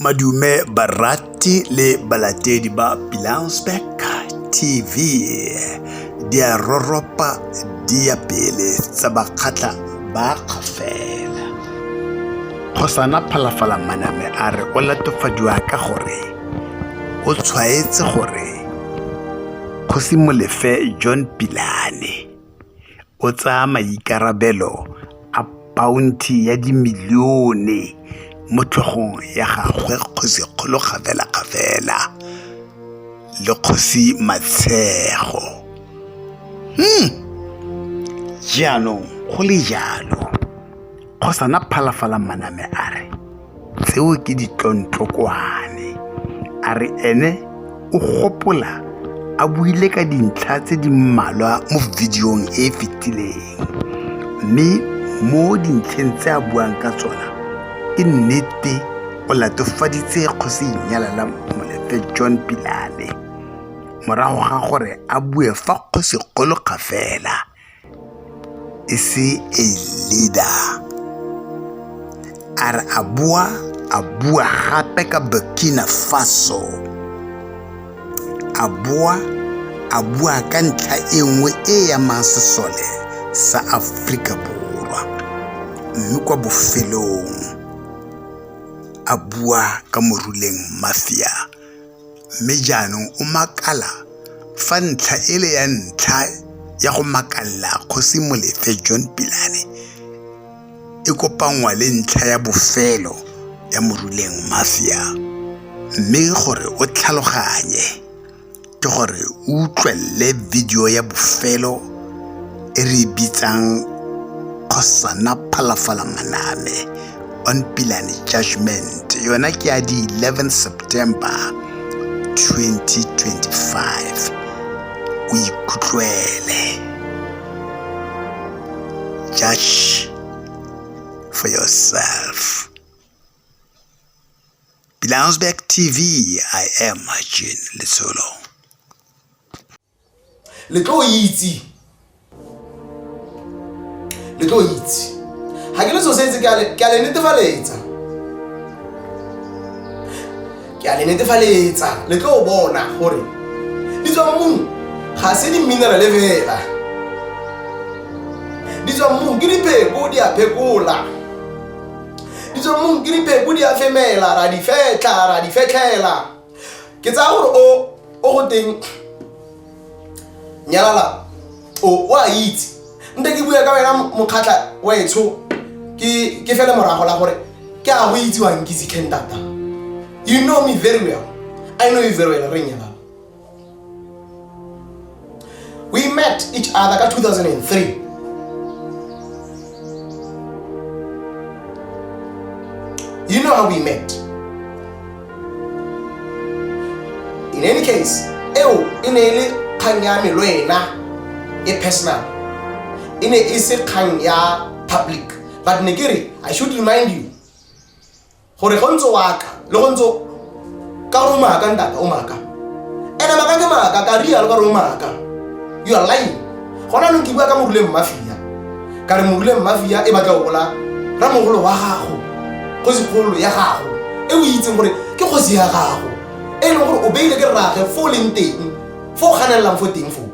Madume barati le balatedi ba Pilansberg TV di a roropa di ya pele tsa bakgatla ba kgafela. Kgosana Phalafala Maname a re o latofadiwa ka gore o tshwaetse gore Kgosi Molefe John Pilane o tsaya maikarabelo a paonthe ya dimilione mo tlhogong ya gagwe Kgosi Kgolo Kgafelakgafela le Kgosi Matshego. Hmm. Jaanong go le jalo, Kgosana Phalafala Maname a re. tseo ke ditlontlokoane a re ene o gopola a buile ka dintlha tse di mmalwa mo videong e e fetileng mme mo dintlheng tse a buang ka tsona ke nnete o latofaditse kgosi inyalala molefe john pilane morago ga gore a bue fa kgosi kgolo kgafela e se a leader a re a boa a bua gape ka burkina faso a boa a bua ka ntlha e nngwe e e amang sesole sa aforika borwa mme kwa bofelong a bua ka moruleng mafia Mme jaanong o makala fa ntlha e le ya ntlha ya go makalla Kgosi Molefe John Pilane e kopanngwa le ntlha ya bofelo ya Moruleng Mafia. Mme gore o tlhaloganye ke gore o utlwelele video ya bofelo e re e bitsang Kgosana Phalafala Maname on pilane judgment yona ke ya di 11 september 2025 o ikutlwele judge for yourself Bilansberg TV, I am Jean Litsolo. le tlo itse le tlo itse ga ke le so setse ke a le netefaletsa ke a le netefaletsa le tlo bona gore di tswa mo mong ga se di-minerale fela di tswa mmung ke dipheko di a phekola di tswa mmung ke dipheko di a femela ra di fetlha ra di fetlhela ke tsaya gore o o go teng nyalala o o a itse nte ke bua ka wena mokgatlha wetsho ke ke fele morago la gore ke a go itse wa nkitse ken tata you know me very well i know you very well re nyalala we met each other ka 2003 you know how we met in any case eo e ne e le kgang ya me le wena e personal e ne e se kgang ya public but ne ke re i should remind you gore go ntse waka le go ntse ka gore o maaka ntate o maaka ene maaka ke maaka ka rialo ka gore o maaka you are lying gona nong ke bua ka moruleng mafia ka re moruleng mafia e batla o bola ramogolo wa gago go segolo ya gago e o itseng gore ke kgosi ya gago e leng gore o beile ke rrage fo o leng teng fo o ganelelang fo teng foo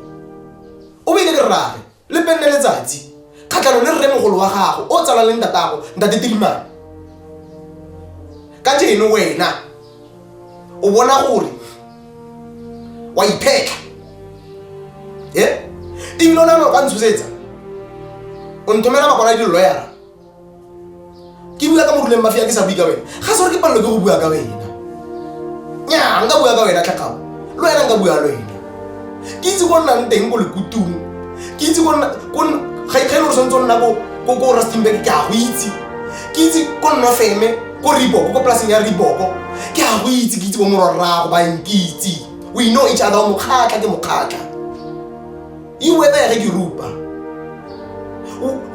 o beile ke rrage le penne letsatsi kgatlhanong le rremogolo wa gago o tsalang le ntatago ntate tilimane ka jeno wena o bona gore wa iphetlha e ebile o nagana o ka ntshosetsa o nthomela makwala a di-lawyer ke bua ka moruleng mafia ke sa bue ka wena ga se gore ke palelo ke go bua ka wena nya nka bua ka wena tlhakao le wena nka bua le wena ke itse ko nnang teng ko lekutong ke itse ga e le gore tshwanetse o nna ko rustembek ke a go itse ke itse ko nna feme ko riboko ko polaseng ya riboko ke a go itse ke itse bo morwarrago ba nkitse we know each other mokgatlha ke mokgatlha iwe ebe yare dirupa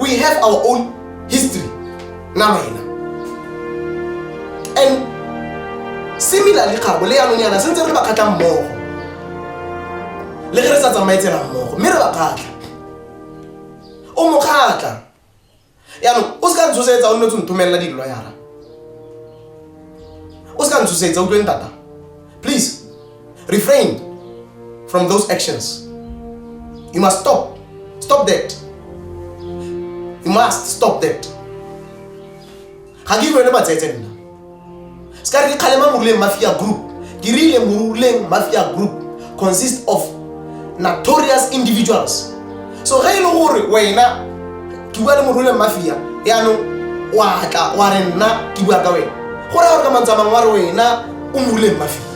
we have our own history na maina and similarly kgabo le yanong yana sentse re ba kgatlha mmogo le ge re sa tsamaye tsela mmogo mme re ba kgatlha o mo kgatlha yaanong o se ka ntshosetsa o nne tse nthomelela di-loyara o se ka ntshosetsa utlweng tata please refrain from those actions you must stop stop that you must stop that ga ke rwele matsetse nna se ka re ke kgalema moruleng mafia group ke rile moruleng mafia group consist of notorious individuals so ge e le gore wena ke bua le moruleng mafia yaanong wa tla wa re nna ke bua ka wena go raya gore ka mantswe a mangwe wa re wena o moruleng mafia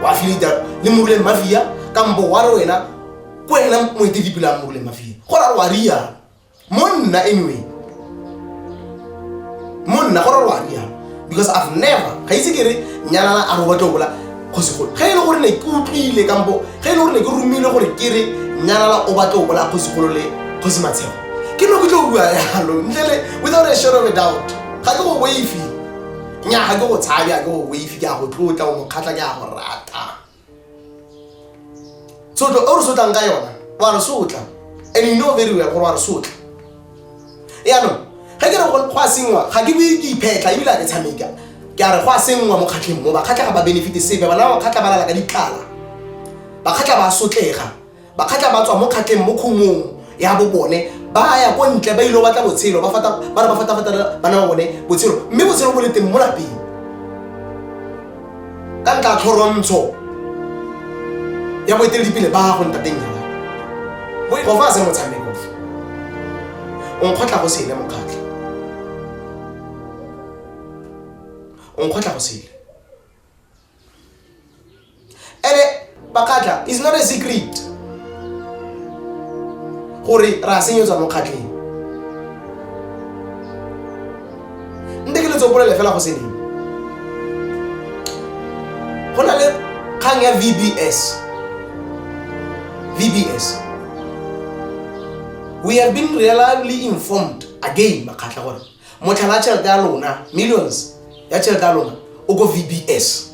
o affiliata le moruleng mafia kampo wa re wena ko wena moeteledipele a moruleng mafia go raya gore wa riana monna anyway monna go rarwa ya because i've never ga itse ke re nyalana a re batla bola kgosi golo ga e le gore ne ke utlwile kampo ga e le gore ne ke romile gore ke re nyalala o batla bola kgosi golo le kgosi matshego ke no ke tlo bua yalo ntle le without a shadow of a doubt ga ke go waifi nya ga ke go tshabe a ke go waifi ke a go tlotla o mokgatlha ke a go rata sotlo o re sotlang ka yona wa re sotla and you know very well gore wa re sotla yaanong ge ke re go a sengwa ga ke bue ke iphetlha ebile a ke tshameka ke a re go a sengwa mo kgatlheng mo bakgatlha ga ba benefite sepe bana ba bakgatlha ba lala ka ditlala bakgatlha ba sotlega Bakgatla ba tswa mo kgatleng mo khumong ya bo bone ba ya ko ntle ba ile batla botshelo ba fata ba re ba fata fata bana ba bone botshelo mme botshelo bo le teng mo lapeng ka nka tlhorontsho ya boeteledipele ba go ntateng ya gago go fa se motshameko o nkgotla go sele mokgatlho o nkgotla go sele ene bakgatla is not a secret gore re a senyetswa mo kgatlheng nte ke letsopolele fela go seneng go na le kgang ya vbs vbs we have been reliably informed again bakgatlha gore Motlhala wa tšhelete ya lona, millions ya tšhelete ya lona o ko VBS.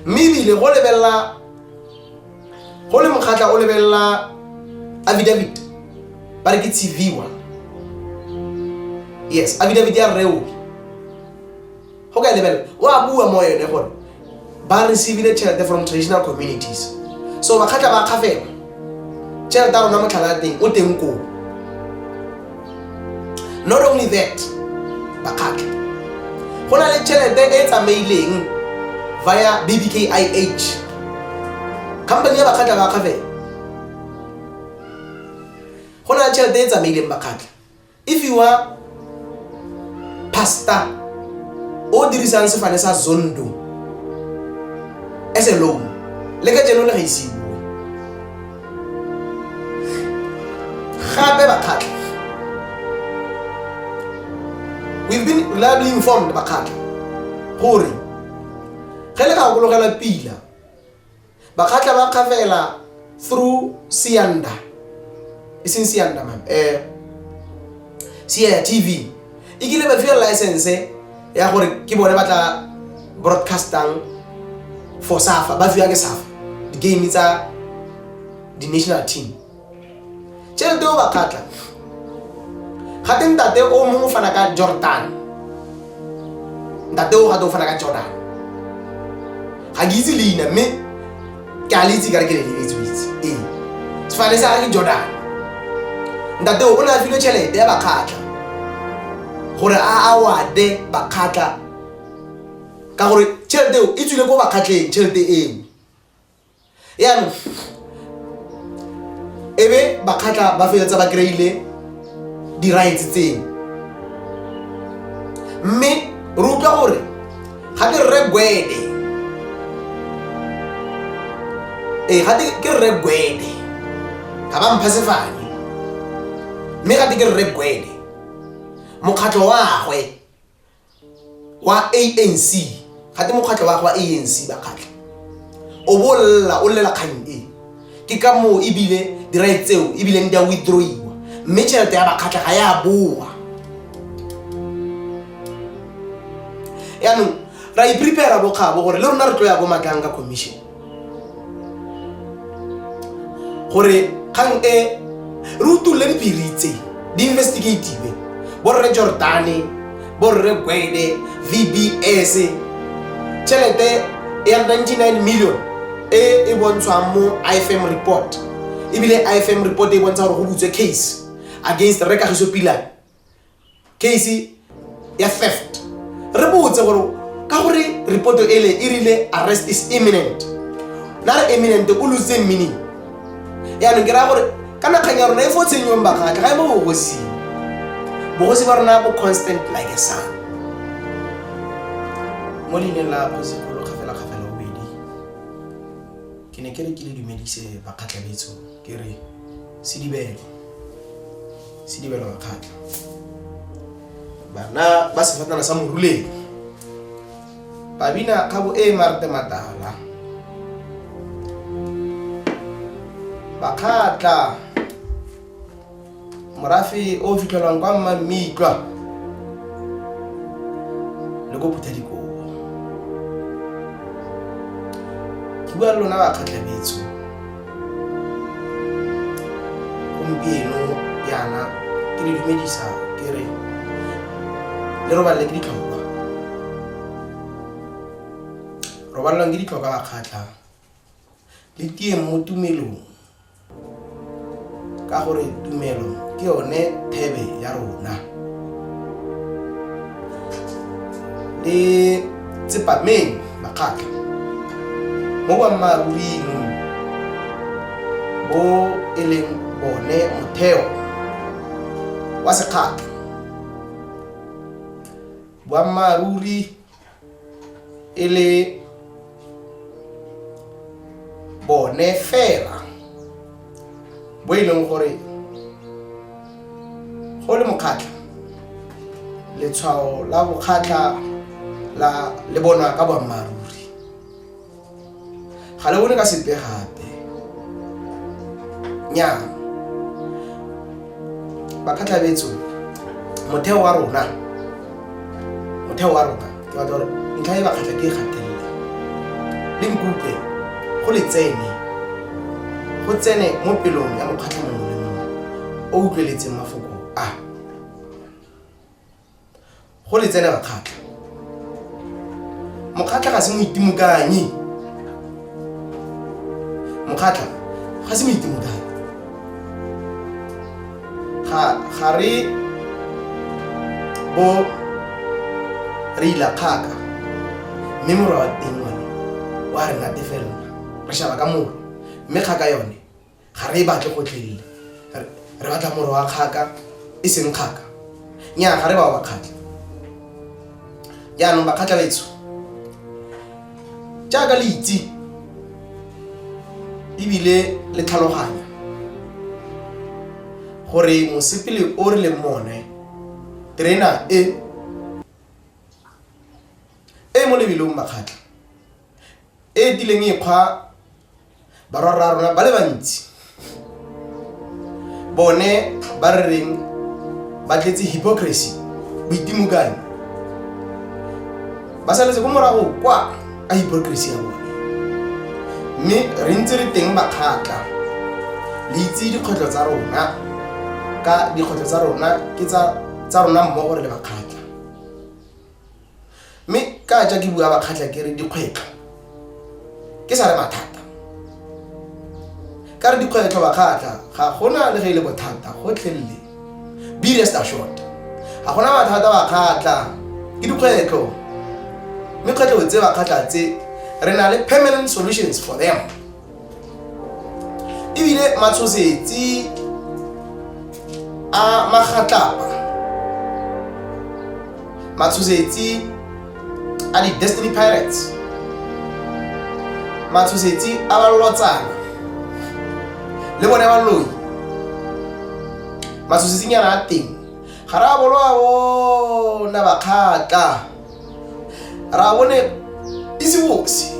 Mme ebile go lebelela go le mokgatlha o lebelela affidavit ba re ke tshiviwa yes affidavit ya rreoke go ka lebelela o a bua mo yone gore ba receivile tšhelete from traditional communities so bakgatla ba kgafela tšhelete a rona motlhala ya teng o teng koo not only that bakgatla go na le tšhelete e tsamaileng via bbkih company ya bakgatla ba kgafela go na le tšhelete e tsamaileng bakgatla If you are pastor o dirisang sefane sa zondo as a loan le ka jeno le ga isiwe gape bakgatlha we've been reliably informed bakgatlha gore ge le ka gokologela pila Bakgatla ba kgafela through Sianda. E seng Sianda man. Eh Sianda TV. E kile ba fiwa license ya gore ke bone ba tla broadcastang for Safa. Ba fiwa ke Safa. Di game tsa di national team. tšhelete o bakgatla gate ntate o mongwe fana ka jordan ntate o gate o fana ka jordan ga ke itse leina mme ke a le itse kare ke le lebetse o itse ee sefane sa ga ke jordan ntate o ne a filwe tšhelete ya bakgatla gore a awade bakgatla ka gore tšhelete eo e tswile ko bakgatleng tšhelete eo yaanong e be bakgatla ba feletsa ba kry-ile di-rights tseo mme re utlwa gore ga ke rre gwede ee eh, gate ke rre gwede ga ba mpha sefane mme gate ke rre gwede mokgatlho wagwe wa anc gate mokgatlho wa wa anc bakgatlha o bo lela o lela kgang e ke ka moo ebile dirae tseo ebileng di a withdrawiwa mme tšhelete ya bakgatlha ga ya boa yaanong ra iprepara bokgabo gore le rona re tlo ya ko matlang ka commission gore kgang e re utulole dipiritse di-investigative borre jordane borre gwede vbs tšhelete ya 99 million e e bontshwang mo ifm report ebile ifm report e bontsha gore go butswe case against rekagiso pilane case ya theft re botse gore ka gore reporto ele e rile arrest is imminent na re imminent o lose meaning yaanong ke raya gore ka nakgang ya rona e fo tshenyong bakgatlha ga e mo bogosing bogosi ba rona bo constant like a sun mo leineng la kgosigolo kgafela kgafela bobedi ke ne ke re ke le dumedise bakgatlhabetso ke re sedibelo sedibelo wa kgatlha bana ba sefatana sa moruleng ba bina kgabo e e marte matala ba kgatlha morafe o fitlhelwang kwa mma mme itlwa le ko phutha dikobo ke bua le lona bakgatlhabetso gompieno yana ke le dumedisa ke re le robalele ke ditlhokwa robalelwang ke ditlhokwa bakgatlha le tieng mo tumelong Ka gore tumelo ke yone thebe ya rona. Le tsepameng makgatlo mo boammaaruring bo e leng bone motheo wa sekgatlho. Boammaaruri e le bone fela bo e leng gore go le mokgatlha letshwao la bokgatlha la le bonwa ka boammaaruri ga le bone ka sepe gape nya bakhatlhabetso motheo wa rona motheo wa rona ke batla gore ntlha e bakgatlha ke e gatelela le nkutlwe go le tsene go tsene mo pelong ya mokgatlha mongwe le mongwe o utlweletseng mafoko a go le tsenela kgatlha mokgatlha ga se moitimokanyi mokgatlha ga se moitimokanyi ga re bo re ila kgaka mme morwa wa teng one wa re natefelela re shaba ka moro mme kgaka yone Ga re e batle gotlhelele. Re batla moro wa kgaka, e seng kgaka. Nnyaa, ga re bao bakgatla. Jaanong bakgatla betsho, jaaka le itse ebile le tlhaloganya gore mosepele o re leng mone, terena e e mo lebelong bakgatla, e e tileng e kgwa barwarra rona ba le bantsi bone ba re reng ba tletse hypocrisy boitimokane ba saletse ko morago kwa ka hypocrisy ya bone mme re ntse re teng makgatla le itse dikgwetlho tsa rona ka dikgwetlho tsa rona ke tsa rona mmogo re le makgatla mme ka ja ke bua bakgatlha ke re dikgwetlho ke sa re mathata ka re dikgwetlho bakgatlha ga gona le ge e le bothata gotlhelele be rest assured ga gona mathata bakgatlha ke dikgwetlho mme kgwetlho tse bakgatlha tse re na le permanent solutions for them ebile matshosetsi a magatlapa matshosetsi a di-destiny pirates matshosetsi a ba lotsana le bone ba loi matshosetsinyana a teng ga re a bolo a bona bakgatla arabone izi wose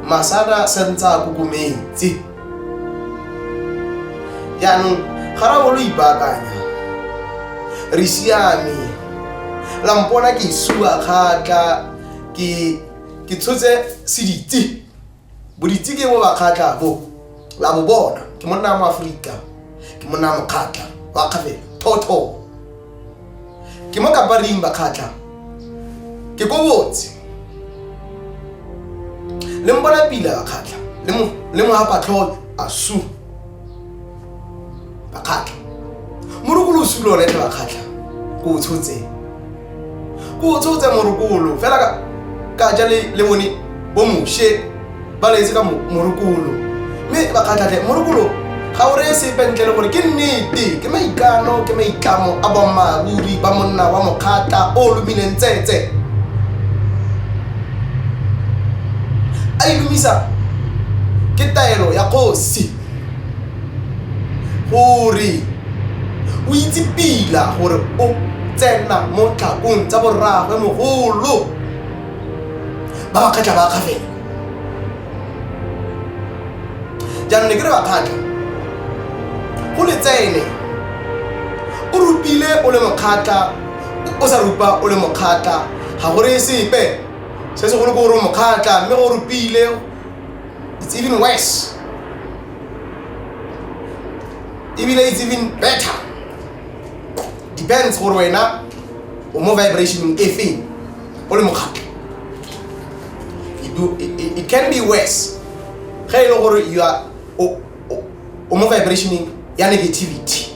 masana santse a kokometse jaanong ga ra bolo ipaakanya re siame la mpona ke sua kgatla ke ke tshotse seditse Boditsi ke bo ba kgatlha bo la bo bona ke monna wa moaforika ke monna wa mokgatlha wa kgafela thotho ke mo kaparing bakgatlha ke ko botse le mpona pila bakgatlha le mo hapatlholo asu bakgatlha morokolo o sula one tle bakgatlha ko o tshotse ko o tshotse morokolo fela ka ja le mone bo moshe ba letse ka morokolo mme bakgatlhatle morokolo ga o reye sepe ntle le gore ke nnete ke maikano ke maitlamo a bommaruri ba monna wa mokgatla o lomileng tsetse a ilumisa ke taelo ya kgosi gore o itse pila gore o tsena mo tlhakong tsa borragwe mogolo ba ba kgatlha ba kgatlhela jaanong ne ke re ba kgatlha go le tsene o rupile o le mokgatlha o sa rupa o le mokgatla ga go reye sepe se segolo ko gore mokgatla mme o rupile it's even worse ebile it's even better depends gore wena o mo vibrationeng e feng o le mokgatla it can be worse ge e le gore you are o mo vibrationeng ya negativity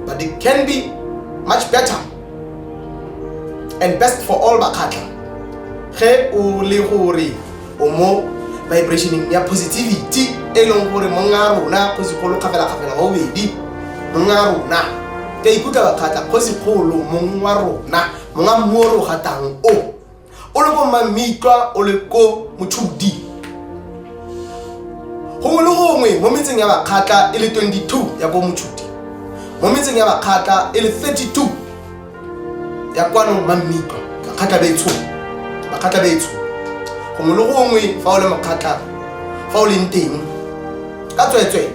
but it can be much better and best for all bakgatlha ge o le gore o mo vibrationeng ya positivity e leng gore monga rona kgosigolo kgafela-kgafela wa bobedi monga rona ke a ikutlwa bakgatlha kgosigolo mong wa rona monga mmuo ro gatang o o le ko mamitlwa o le ko motshudi gongwe le gongwe mo metseng ya bakgatla e le 22 ya ko motshudi mo metseng ya bakgatla e le 32 ya kwano mamitlwa bakgatla betsho bakgatla betsho gongwe le gongwe fa o le mokgatla fa o leng teng ka tsweetswee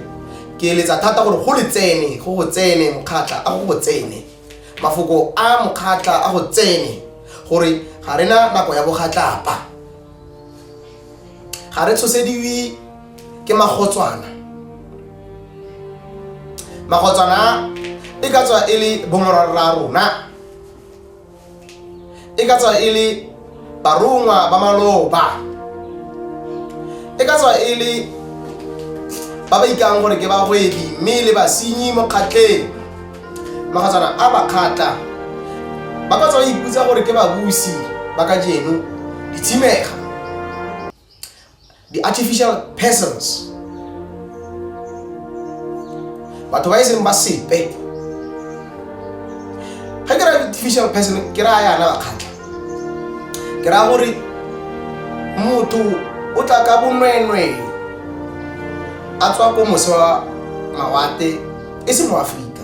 ke eletsa thata gore go le tsene go go tsene mokgatla a go go tsene mafoko a mokgatla a go tsene gore ga re na nako ya bogatlapa ga re tshosediwe ke magotswana magotswana e ka tswa e le bomorwarra rona e ka tswa e le barongwa ba maloba e ka tswa e le ba ba ikang gore ke bagwebi mme le basenyi mo kgatleng magatswana a ba kgatla ba ka tswa ba iputsa gore ke babusi ba ka jeno ditshimega di-artificial persons batho ba e seng ba sepe ga ke raya artificial person ke raya yana bakgatlha ke raya gore motho o tla ka bonwenwee a tswa ko mose wa mawate e se mo aforika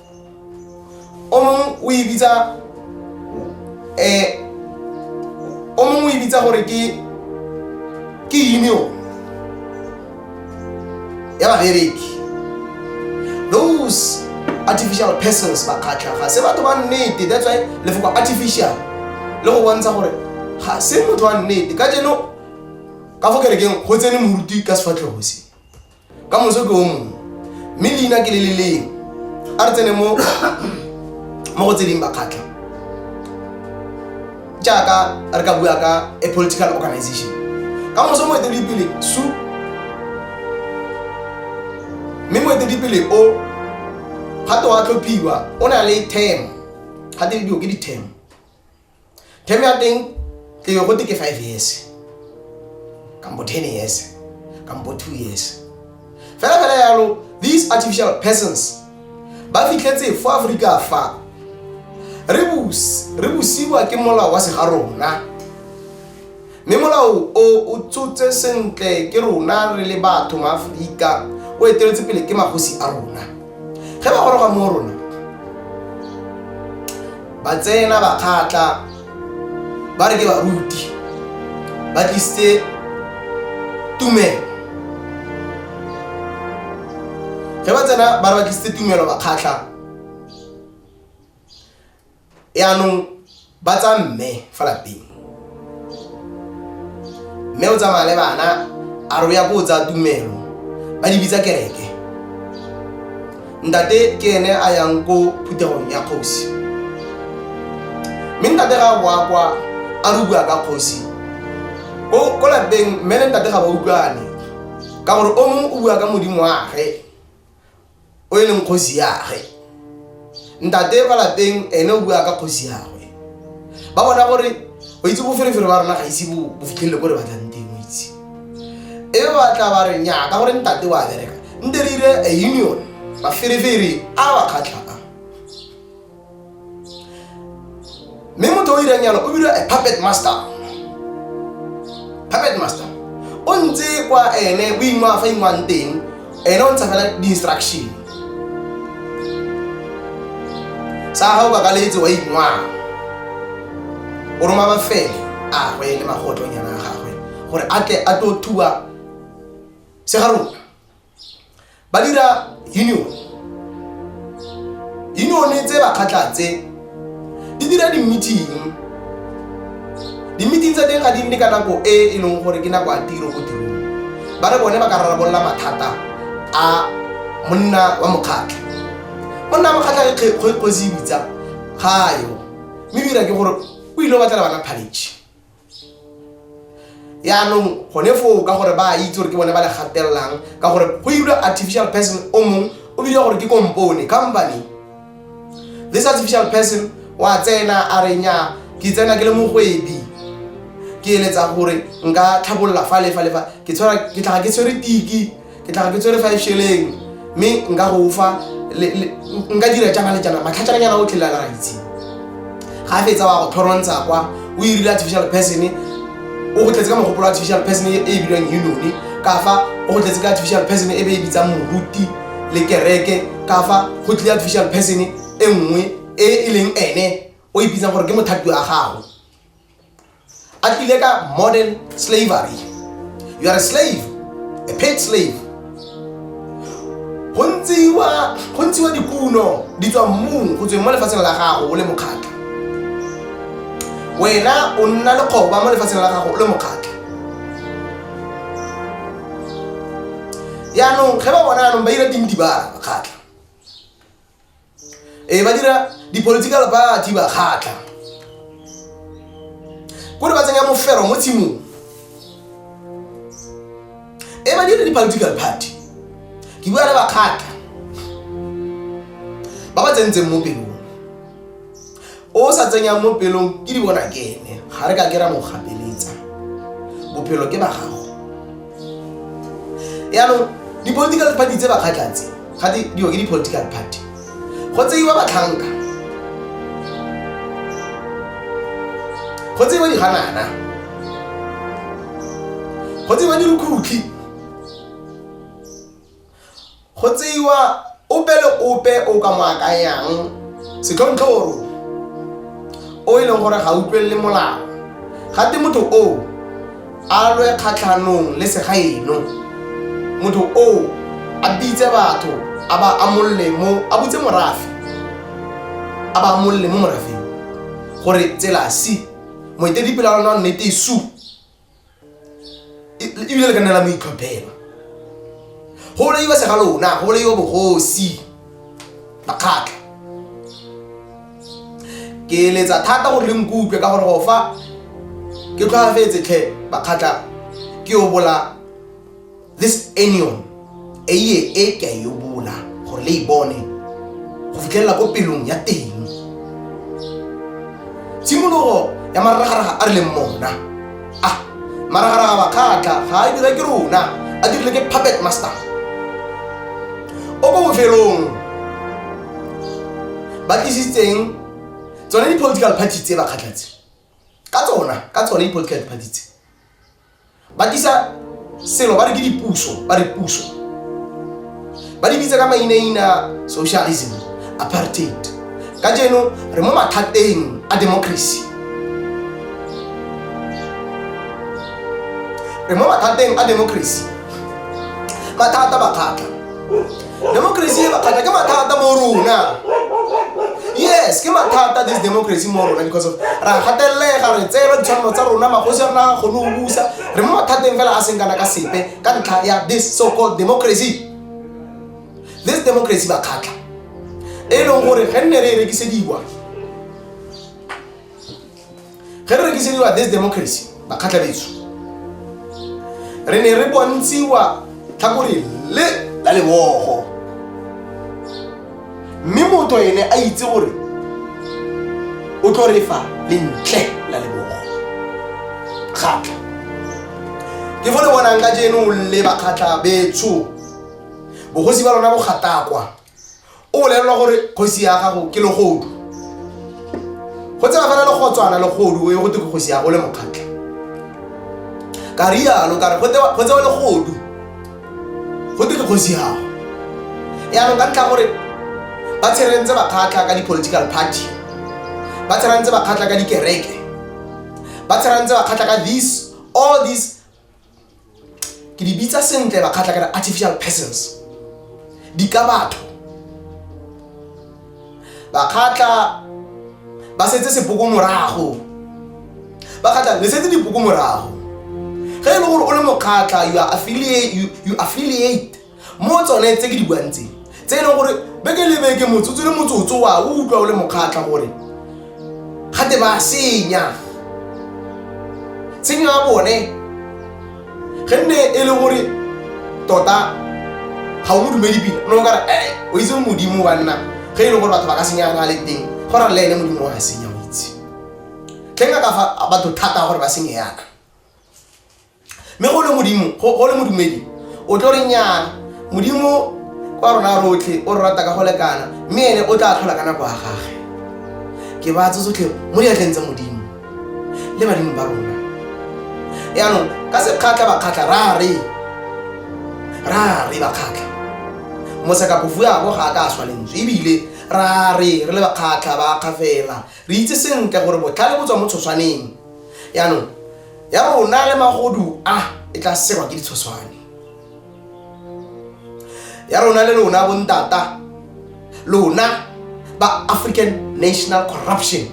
o mongwe o e bitsa eh o mongwe o e bitsa gore ke ke union ya babereki those artificial persons ba kgatlha ga se batho ba nnete that's why lefoko artificial le go bontsha gore ga se motho wa nnete ka jeno ka fo kerekeng go tsene moruti ka sefatlhego se ka moso ke o mongwe mme leina ke le le leng a re tsene mo mo go tse ding bakgatlha jaaka re ka bua ka a political organization ka moso moeteledipele su mme moeteledipele o ga te wa tlhophiwa o na le term ga te didio ke di-term term ya teng ke yo gote ke five years kambo ten years kambo two years fela fela yalo these artificial persons ba fitlhetse fo aforika fa re busiwa ke molao wa segarona Mme molao o o tshotse sentle ke rona re le batho maAforika, o eteletse pele ke magosi a rona. Ge ba goroga mo rona, ba tsena ba kgatla ba re ke baruti ba tlisitse tumelo ge ba tsena ba re ba tlisitse tumelo ba kgatlha yaanong ba tsa mme fa lapeng mme o tsamaya le bana a re o ya ko o tsaya tumelo ba di bitsa kereke ntate ke ene a yang ko phuthegong ya kgosi mme ntate ga boa kwa a re bua ka kgosi ko lapeng mme le ntate ga ba utlwane ka gore o mongwe o bua ka modimo wage o e leng kgosi yage ntate kwa lapeng ene o bua ka kgosi yagwe ba bona gore o itse boferefere ba rona ga ise bo fitlhelele ko re batlang teng o itse e batla ba re nya ka gore ntate wa bereka nte re dire a union baferefere a ba kgatlha mme motho o irang yana o bidwa a puppet master puppet master o ntse kwa ene o ingwa fa ingwang teng ene o ntsha fela di-instruction sa ga o bakaletse wa ingwa o roma bafele a gwe le magotlonyana a gagwe gore a tle a tlo thuba se ga rona ba dira union unione tse bakgatlha tse di dira di-meeting di-meeting tsa teng ga di nne ka nako e e leng gore ke nako ya tiro go tirong ba re bone ba ka rarabolola mathata a monna wa mokgatlha monna wa mokgatlha ke kgosi e bitsa ga yo mme dira ke gore o ile o batlela bana phaletšhe yaanong gone foo ka gore ba itse gore ke bone ba le gatelelang ka gore go irwa artificial person o mongwe o bidiwa gore ke kompone company this artificial person wa tsena a renya ke tsena ke le mogwebi ke eletsa gore nka tlhabolola fa le fa le fa ke tshwara ke tlhaga ke tshwere tiki ke tlaga ke tsere five sheleng mme nka go fa nka dira jana le jana matlhatšananyana o tlhelela la itse ga a fetsa wa go tlhorontsha kwa o irile artificial person o go tletse ka mogopolo artificial person e e bilwang unone ka fa o go tletse ka artificial person e be e bitsang moruti le kereke ka fa go tlile artificial person e nngwe e e leng ene o e bitsang gore ke mothapi wa gago a tlile ka modern slavery you are a slave a paid slave go ntshiwa dikuno di tswa mmung go tsweng mo lefatsheng la gago o le mokgatlha wena o nna lekgoba mo lefatsheng la gago o le mokgatlha yaanong ge ba bona anong ba ira dintibara kgatlha ee ba dira di-political party ba kgatlha kore ba tsenya mofero mo tshimong ee ba dira di-political party ke bua le bakgatlha ba ba tsentseng mo pelong o sa tsenyang mo pelong ke di bona ke ene ga re ka ke ra mo gapeletsa bophelo ke ba gago yaanong di-political party tse ba kgatlhatse ga di diwa ke di-political party go tseiwa batlhanka go tseiwa diganana go tseiwa dirukhutlhi Go tseiwa ope le ope o ka mo akanyang setlhontlhoro o e leng gore ga utlwelele molao, gate motho oo a lwe kgatlhanong le segaeno. Motho oo a bitse batho a ba amolle mo, a butse morafe a ba amolle mo morafeng gore tsela si, moeteledipele wa lona wa nnete su. E- e- ebile le ka nna la mo itlhophela go bolaiwa se ga lona go bolaiwa bogosi makgatla ke letsa thata gore le nkutlwe ka gore go fa ke tlhwaafetse tlhe makgatla ke o bola this anion e ye e ke a yo bola gore le e bone go fitlhelela ko pelong ya teng tshimologo ya maragaraga a re leng mona a maragaraga bakgatla ga a dira ke rona a dirile ke puppet master o ko bofelong ba tlisitseng tsone di-political party tse bakgatlatse ka tsona ka tsone di-political party tse ba tlisa selo ba re ke dipuso ba re puso ba di bitsa ka mainaina socialism apartheid ka jeno re mo mathateng a democracy re mo mathateng a democracy mathata bakgatla democracy e bakgata ke mathata mo rona yes ke mathata this democracy mo rona because of ra gatelega re tseela ditshwanelo tsa rona magosi a rona ga kgone go busa re mo mathateng fela a seng kana ka sepe ka ntlha ya this so called democracy this democracy ba kgatlha e leng gore ge nne re e rekisediwa ge re rekisediwa this democracy bakgatlha betso re ne re bontshiwa tlhakore le la lebogo mme motho ene a itse gore o tlo re fa lentle la lebogo kgatlha ke fo le bonang ka jeno le bakgatlha betsho bogosi ba lona bogatakwa o bolelelwa gore kgosi ya gago ke legodu go tsena fela le gotswana legodu o ye go te kgosi ya go le mokgatlha ka rialo kare go tsewa legodu go te ke kgosi yago yaanong ka ntlha gore ba tsherentse bakgatlha ka di-political party ba tsherantse bakgatlha ka dikereke ba tsherantse bakgatlha ka this all this ke di bitsa sentle ba kgatlha ka artificial persons di ka batho ba kgatlha ba setse sepoko morago ba kgatlha le setse dipoko morago ge e le gore o le mokgatlha you affiliate mo tsone tse ke di buang tse tse e leng gore beke le beke motsotso le motsotso wa o utlwa o le mokgatlha gore gate ba senya tshenyo ya bone ge nne e le gore tota ga o mo dumedi pila no o kare e o itse modimo wa nna ge e leng gore batho ba ka senya na le teng go ra le ene modimo wa senya o itse tleng ka fa batho thata gore ba senye yana mme go le modimo go le modumedi o tlo re nyana modimo wa rona rotlhe o re rata ka go lekana mme ene o tla tlhola ka nako ya gage ke ba tse tsotlhe mo diatleng tsa modimo le badimo ba rona yaanong ka sekgatlha bakgatlha ra re ra re bakgatlha mosekapofuabo ga a ka a swa lentswe ebile ra re re le bakgatlha ba kgafela re itse sentle gore botlhale bo tswa mo tshoswaneng yaanong ya rona le magodu a e tla serwa ke ditshoswane ya rona le lona bontata lona ba african national corruption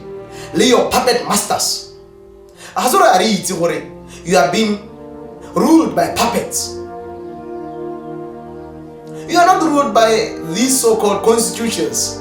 le your puppet masters a ga se gore a re itse gore you are being ruled by puppets you are not ruled by these so-called constitutions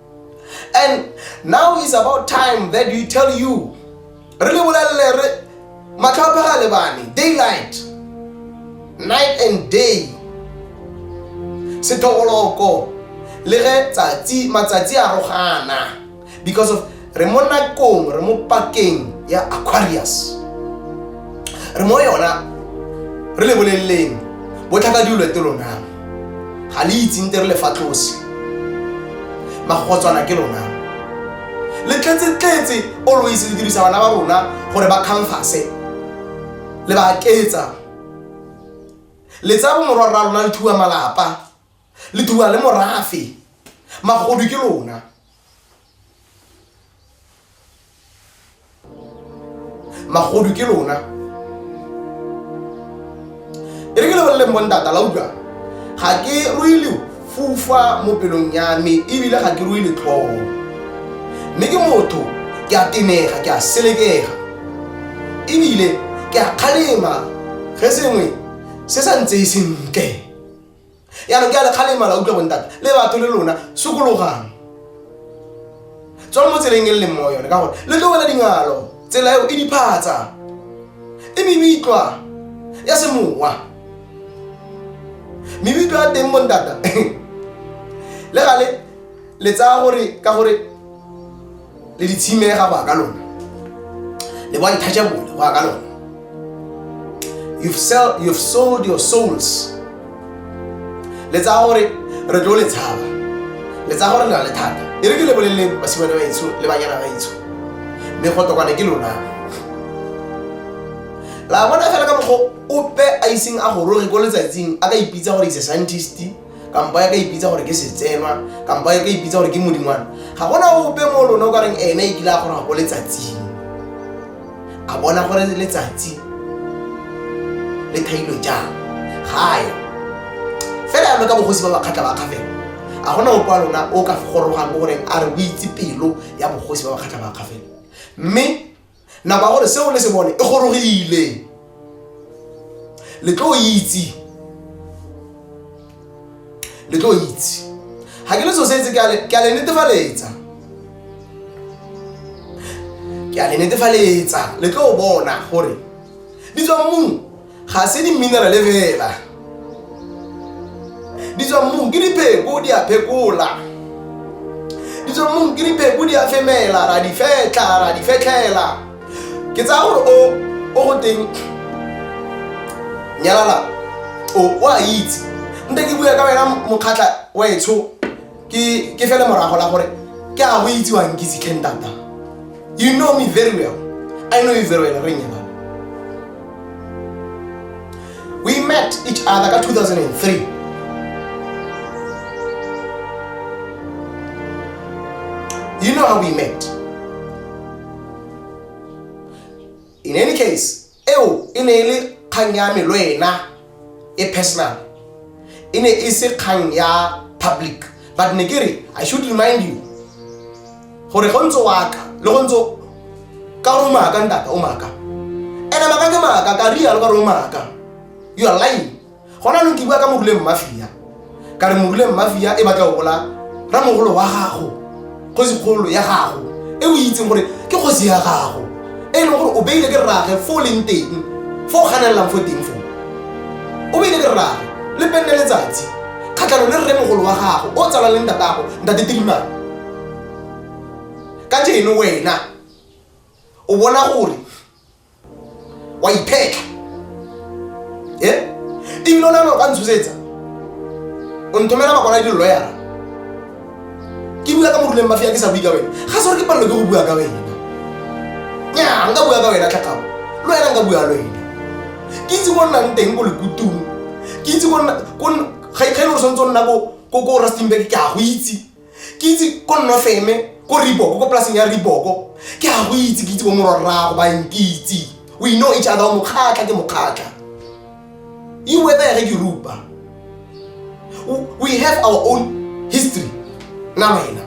and now is about time that we tell you re le bolelele re matlho a phega lebane daylight night and day sethogoloko le ge tsatsi matsatsi a rogana because of re mo nakong re mo pakeng ya aquarius re mo yona re le boleleleng botlhaka diolete lonang ga le itseng te re le fa tlose magogotswana ke lona le tletse-tletse always le dirisa bana ba rona gore ba khamfase le ba aketsa le tsa bomorwa rra lona le thuwa malapa le thuwa le morafe magodu ke lona magodu ke lona e re ke lebeleleng bontata la utlwa ga ke ruile fufa mo pelong ya me ebile ga ke ruile tlhogo mme ke motho ke a tenega ke a selekega ebile ke a kgalema ge sengwe se sa ntseye sentle yaanong ke a lekgalemala utlwa bontate le batho le lona sokologang tswa mo tseleng e le leng mo yone ka gore le tlogela dingalo tsela eo e diphatsa e mebitlwa ya semowa mebitlwa ya teng bontata le gale le tsaya gore ka gore le di tshimega go ya ka lona le bo untouchable go ya ka lona you've, sell, you've sold your souls le tsaya gore re tlo le tshaba le tsaya gore le na le thata e re ke le boleleng basimane ba etsho le banyana ba etsho mme go tokwane ke lona la bona fela ka mokgwa ope a iseng a goroge ko letsatsing a ka ipitsa gore ise scientist kampo ya ka ipitsa gore ke setsenwa kampo ya ka ipitsa gore ke modingwana ga gona ope mo lone o ka reng ene e kile a gore ga ko letsatsing a bona gore letsatsi le thailo jang ga ya fela yalo ka bogosi ba bakgatlha ba kgafela a gona ope wa lona o ka gorogang mo goreng a re o itse pelo ya bogosi ba bakgatlha ba kgafela mme nako ya gore seo le se bone e gorogile le tlo itse le tlo itse ga ke le so setse ke a le netefaletsa ke a le netefaletsa le tlo bona gore di tswa mmung ga se di-minerale fela di tswa mmung ke dipheko di a phekola di tswa mmung ke dipheko di a femela ra di fetla ra di fetlhela ke tsaya gore o o go teng nyalala o a itse nte ke bua ka wena mokgatlha wa etsho ke ke fele morago la gore ke a go itsiwang ke sitlhe ntata you know me very well i know you very well re nyala we met each other ka 2003 you know how we met in any case Eo e ne e le kgang ya me le wena e personal. E ne e se kgang ya public. But ne ke re, I should remind you gore go ntse waka le go ntse ka gore o maaka ntata o maaka. Ene maaka ke maaka, ka rialo ka gore o maaka. You are lying. gona lo ke bua ka moguleng mmafia ka re moguleng mmafia e batla go bola ramogolo wa gago kgosikgolo ya gago e o itseng gore ke kgosi ya gago e leng gore o beile ke rrage fo o leng teng fo o ganelelang fo teng foo o beile ke rrage le penne letsatsi kgatlhano le rremogolo wa gago o tsalang le ntatago ntate tilimane ka jeno wena o bona gore wa iphetla e ebile o ne lo ka ntshosetsa o nthomela bakwana le diloyara ke bua ka moruleng mafia ke sa bue ka wena ga se gore ke palelo ke go bua ka wena nya nka bua ka wena tlhakao le wena nka bua le wena ke itse ko nnang teng ko lekutong ke itse ga e le gore tshwanetse o nna ko rastingberg ke a go itse ke itse ko nnofeme ko riboko ko polaseng ya riboko ke a go itse ke itse bo mororrago ba nkitse we know each other mokgatlha ke mokgatlha e wether ge ke rupa we have our own history na wena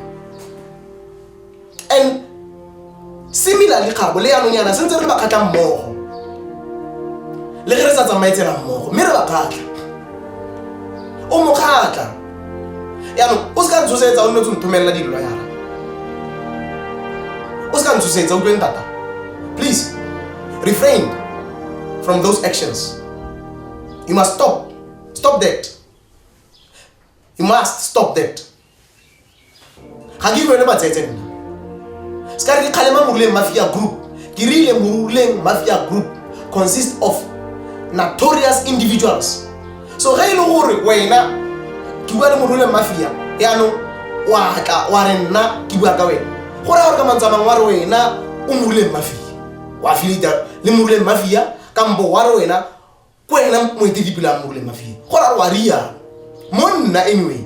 and similarly gabo le yanong yana sentse re ba kgatlha mmogo le ge re sa tsamaye tsela mmogo mme re ba kgatlha o mo kgatlha yanong o se ka ntshosetsa o nne tse nthomelela dilo yana o se ka ntshosetsa utlweng tata please refrain from those actions you must stop stop that you must stop that ga ke ilwele matsetse nna se ka re ke kgalema moruleng mafia group ke rile moruleng mafia group consist of notorious individuals so ge e le gore wena ke bua le moruleng mafia yaanong wa tla wa re nna ke bua ka wena go raya gore ka mantsamang wa re wena o moruleng mafia wa filita le moruleng mafia kampo wa re wena ko ena moetelipele a mmole mafie go ra wa riana mo nna anyway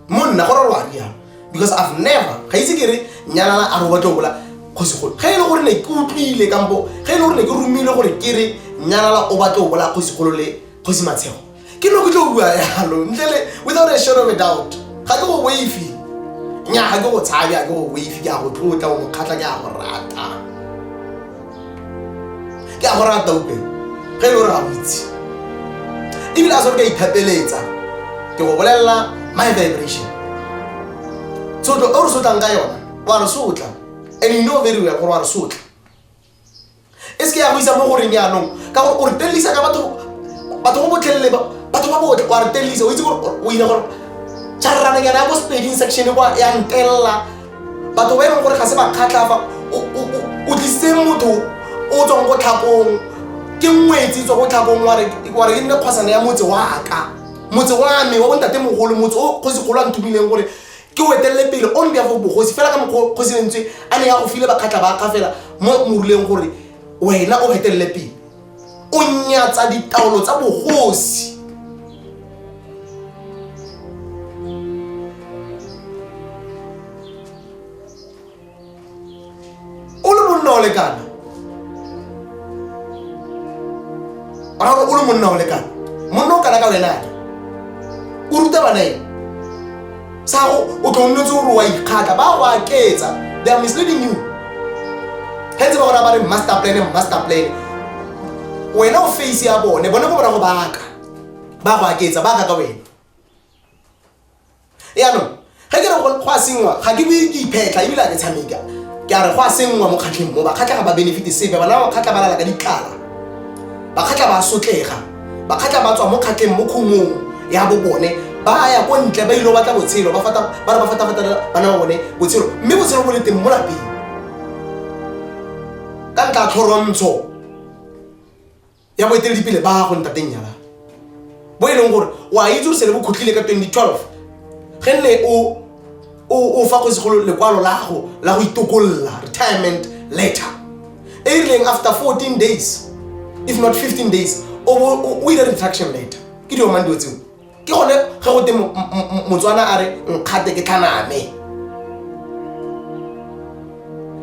mo nna go ra wa riana because i've never ga itse ke re nyalana a re o batla o bola kgosigolo ga e le gore ne ke utlwile kampo ga e le gore ne ke romile gore ke re nyalala o batla o bola kgosigolo le kgosi matshego ke no ke tlo bua yalo ntlele without a shadow of a doubt ga ke go waifi nya ga ke go tshabe a ke go waifi ke a go tlotla o mokgatlha ke a go rata ke a go rata upe ge e le gore ga o itse ebile a sore ka ithapeletsa ke go bolelela my vibration tshotlo o re sotlang ka yona wa re sotla and you know very well gore wa re sotla e seke ya go isa mo goreng yaanong ka gore o re telelisa ka batho batho go botlhelele batho ba botle wa re telelisa o itse gore o ile gore tšharrananyana ya ko sepeding section e kwa ya ntelela batho ba e leng gore ga se ba kgatlhafa o tlisitse motho o tswang ko tlhakong ke ngwetsi tswa ko tlhakong wa re e nne kgwasana ya motse wa ka motse wa me wa bontate mogolo motse o kgosi kgolo a nthomileng gore ke o etelele pele on behalf of bogosi fela ka mokgwa kgosi lentswe a ne ya go file bakgatlha ba ka fela mo moruleng gore wena o etelele pele o nyatsa ditaolo tsa bogosi o le monna o lekana ra gore o le monna o lekana monna o kana ka wena ake o ruta bana eng sago o tlo nnetse gore wa ikgatla ba go aketsa they are misleading you ge ntse ba gona ba re master plan master plan wena o face ya bone bone ko bona go baka ba go aketsa ba ka ka wena yaanong ge ke re go a sengwa ga ke bue ke iphetlha ebile a ke tshameka ke a re go a sengwa mo kgatlheng mo bakgatlha ga ba benefite sepe bana ba bakgatlha ba lala ka ditlala bakgatlha ba sotlega bakgatlha ba tswa mo kgatlheng mo khumong ya bo bone ba ya ko ntle ba ile batla botshelo ba fata ba re ba fata fata bana ba bone botshelo mme botshelo bo le teng mo lapeng ka nka tlhorontsho ya boeteledipele ba gago ntateng nyalana bo e leng gore o a itse gore se le bokhutlile ka 2012 ge nne o fa kgosegolo lekwalo la gago la go itokolola retirement letter e e rileng after 14 days if not 15 days o ire retraction letter ke diomang dilo tseo ke gone ge go te motswana a re nkgate ke tlhaname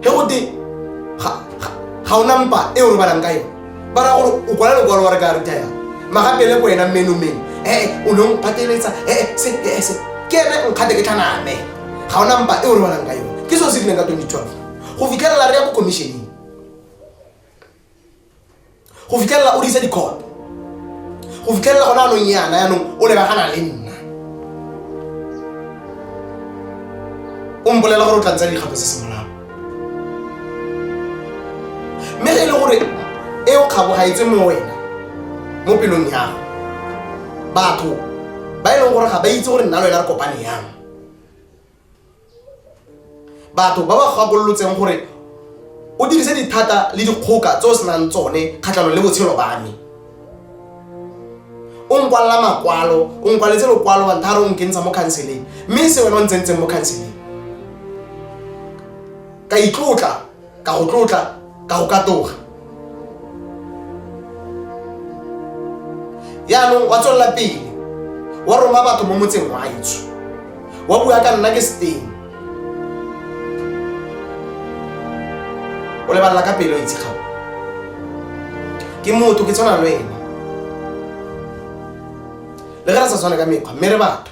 ge go te ga o nampa e o robalang ka yone ba ra gore o kwala lokwalo wa re ka retire magapele ko wena mmenomeng ee o ne o mpateletsa ee se ee se ke ene nkgate ke tlhaname ga o nampa e o robalang ka yone ke seo se rileng ka 2012 go fitlhelela re ya ko commissioneng go fitlhelela o disa dikhoto go fitlhelela gona anong yana yanong o lebagana le nna o mpolela gore o tla ntsa dikgato se semolago mme ge e le gore e o kgabo ga etswe mo wena mo pelong yago batho ba e leng gore ga ba itse gore nna le wena re kopane yang batho ba ba gakolotseng gore o dirise dithata le dikgoka tse o senang tsone kgatlhanong le botshelo ba me o nkwalela makwalo o nkwaletse lokwalo banthare o nkentsha mo khanseleng mme se wena o ntsentseng mo khanseleng ka itlotla ka go tlotla ka go katoga yaanong wa tswelela pele wa roma batho mo motseng wa etsho wa bua ka nna ke seteng o lebalela ka pelo itse gago ke motho ke tshwana le wena le ge re sa tshwane ka mekgwa mme re batho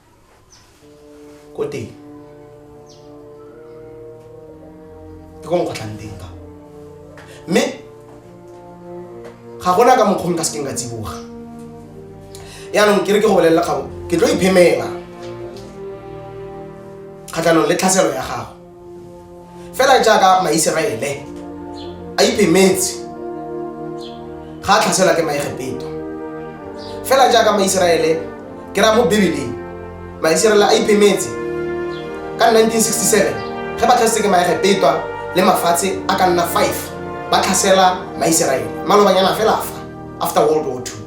ko teng ke ko nkgotlhang teng ka mme ga gona ka mokgwa ka sekeng ka tsiboga yaanong ke re ke go bolelela kgabo ke tlo iphemela kgatlhanong le tlhaselo ya gago fela jaaka maiseraele a iphemetse ga a tlhaselwa ke maegepeto fela jaaka maiseraele ke raya mo bibeleng maiseraele a iphemetse ka 1967 ge ba tlhasetse ke maegepeto le mafatshe a ka nna 5 ba tlhasela maiseraele malobanyana fela fa after world war ii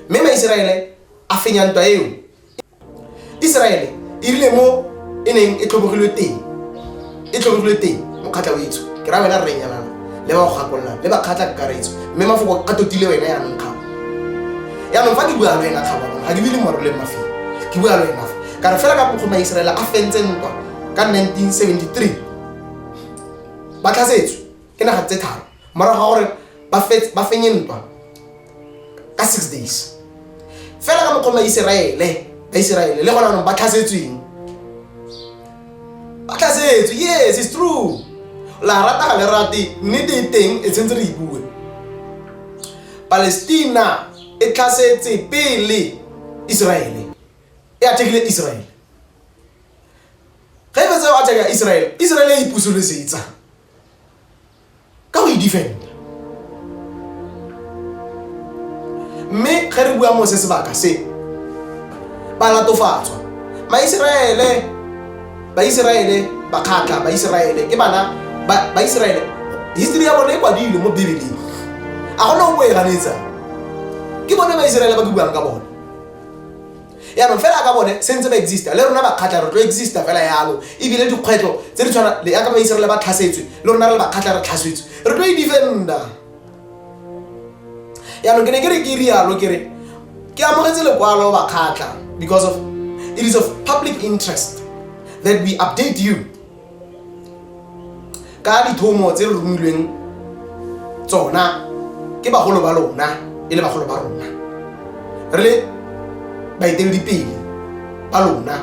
mme maiseraele a fenya ntwa eo iseraele e rile mo e neng e tlhobogilwe teng e tlhobogilwe teng mokgatlha o itso ke ra wena rrenyanana le ba go gakololang le bakgatlha kakaretso mme mafoko a totile wena yaanong kgabo yaanong fa ke bua le wena kgabo ga ke bile moro le mafelo ke bua le wena fa ka re fela ka bokgoni ba iseraele a fentse ntwa ka 1973 ba tlhasetswe ke naga tse tharo morago ga gore ba fenye ntwa ka six days fela ka mokgwa maiseraele baiseraele le gona anong ba tlhasetsweng ba tlhasetswe yes is true la rata ga le rate nnete e teng e tshwanetse re e bue palestina e tlhasetse pele iseraele e athekile iseraele ge e fetsa go atheka iseraele iseraele e ipusolesetsa ka o e defenda mme ge re bua mo se sebaka se ba latofatswa maiseraele baiseraele bakgatlha baiseraele ke bana ba- baiseraele history ya bone e kwadilwe mo bibeleng a gona o bo e ganetsang ke bone baiseraele ba ke buang ka bone yaanong fela ka bone se ntse ba exista le rona bakgatlha re tlo exista fela yalo ebile dikgwetlho tse di tshwana le yaka baisere le ba tlhasetswe le rona re le bakgatlha re tlhasetswe re tlo e defenda yaanong ke ne ke re ke rialo ke re ke amogetse lekwalo bakgatlha because of it is of public interest that we update you ka dithomo tse re romilweng tsona ke bagolo ba lona e le bagolo ba rona re le baeteledipele ba lona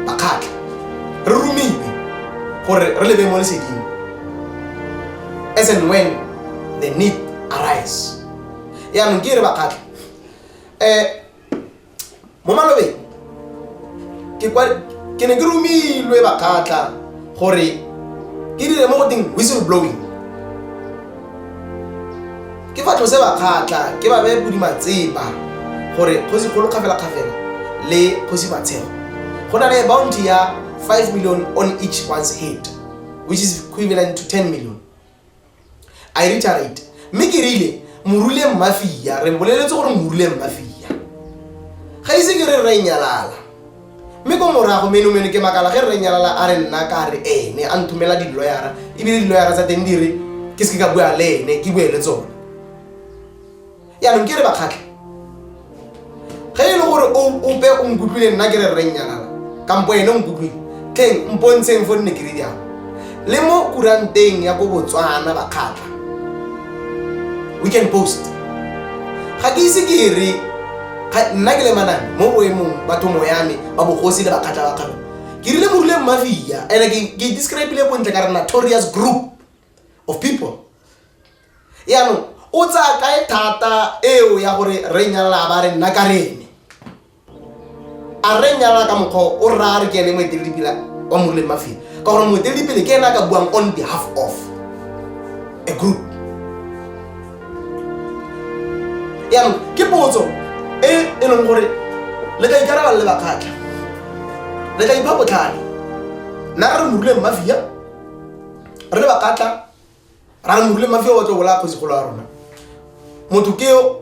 bakgatlha re romile gore re lebe mo leseding as and when the need arise yaanong ke e re bakgatlha um eh, mo malobeng ke kwa ke ne ke romilwe bakgatla gore ke dire mo go teng whistle blowing ke fa tlose bakgatla ke ba beye bodima tseba gore kgosi kgolo kgafela kgafela le kgosi matshego go na le bounty ya 5 million on each one's head which is equivalent to 10 million a e re charate mme ke rile morule mmafia re mboleletse gore morule mmafia ga ise ke re re nyalala mme ko morago menomeno ke makala ge re nyalala a re nna ka re ene a nthomela diloyara ebile diloyara tsa teng di re ke seke ka bua le ene ke bue le tsone yaanong ke re bakgatlhe ge e le gore ope o nkutlwile nna ke re rreng nyanala kampo ene o nkutlwile teng mpontsheng fo nne keredi ao le mo kuranteng ya ko botswana bakgatlha we can post ga ke ise ke e re nna ke le manane mo boemong batho moyame ba bogosi le bakgatlha ba kgalo ke rile morile mmafia and ke describile bontle ka re notorious group of people yaanong o tsaya kae thata eo ya gore re nyalala a ba re nna ka rene a re nyalala ka mokgwa o rra re ke ene moeteledipele wa moruleng mafelo ka gore moeteledipele ke ene a ka buang on behalf of a group yaanong ke potso e e leng gore le ka ikarabala le bakgatlha le ka ipha botlhale nna re re moruleng mafia re le bakgatlha ra re mogule mafio wa tlo bola kgosigolo ya rona motho keo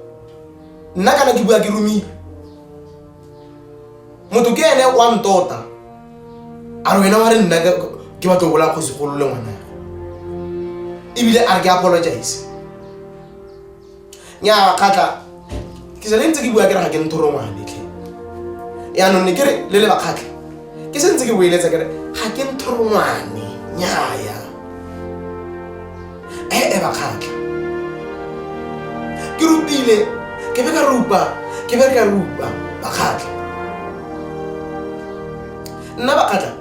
nna kana ke bua ke romile motho ke ene wa ntota a re wena wa re nna ke batlo bola kgosigolo le ngwana ebile a re ke apologize nyaa kgatlha ke sale ntse ke bua kere ga ke nthoro ngwanetlhe yaanong ne kere le le bakgatlha ke se ntse ke boeletsa kere ga ke nthoro ngwane nnyaya ee eh, eh, bakgatlha ke rupile ke be ka rupa ke be ka rupa bakgatlha nna bakgatlha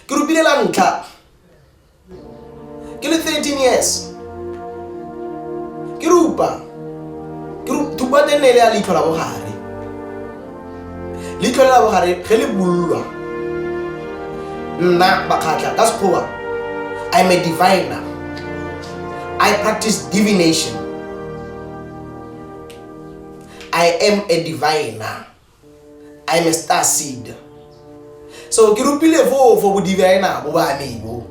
ke rupile la ntlha ke le 13 years ke rupa ke rupa teng ne e le ya leitlho la bogare leitlho le la bogare ge le bulwa nna bakgatlha ka sekgowa i'm a diviner i practice divination i am a diviner I am a star seed. So ke rupile foo for bodibaena bo ba me bo.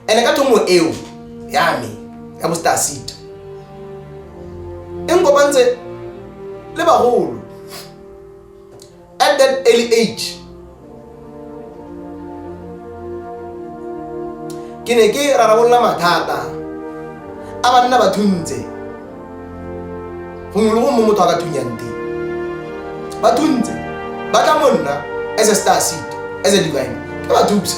Ene ka thomo eo ya me ya bo star seed. E nkopantse le bagolo. at that early age ke ne ke rarabolola mathata a banna ba thuntse gongwe le gongwe mo motho a ka thunyang teng ba thuntse ba tla mo nna as a star seed as a divine ke ba thusa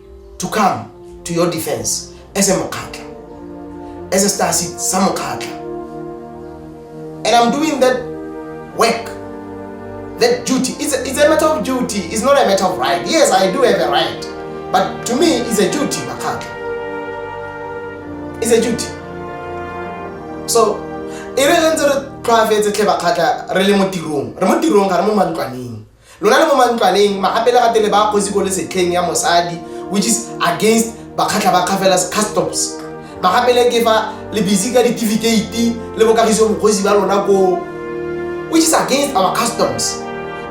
to come to your defense as a mokgatla as a star seed sa mokgatla and i'm doing that work that duty it's a, it's a matter of duty it's not a matter of right yes i do have a right but to me it's a duty makgatla it's a duty so e re re ntse re tlhoafetse tlhe bakgatla re le mo tirong re mo tirong ga re mo mantlwaneng Lona le mo mantlwaneng, magapelegate le ba kgosi ko lesetlheng ya mosadi, which is against bakgatlha ba Kgafelas Customs. Magapele ke fa le busy ka ditifikate le bokagiso bokgosi ba lona koo, which is against our customs,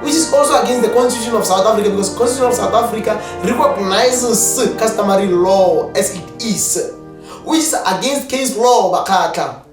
which is also against the constitution of South Africa because constitution of South Africa recognizes customary law as it is, which is against case law, bakgatlha.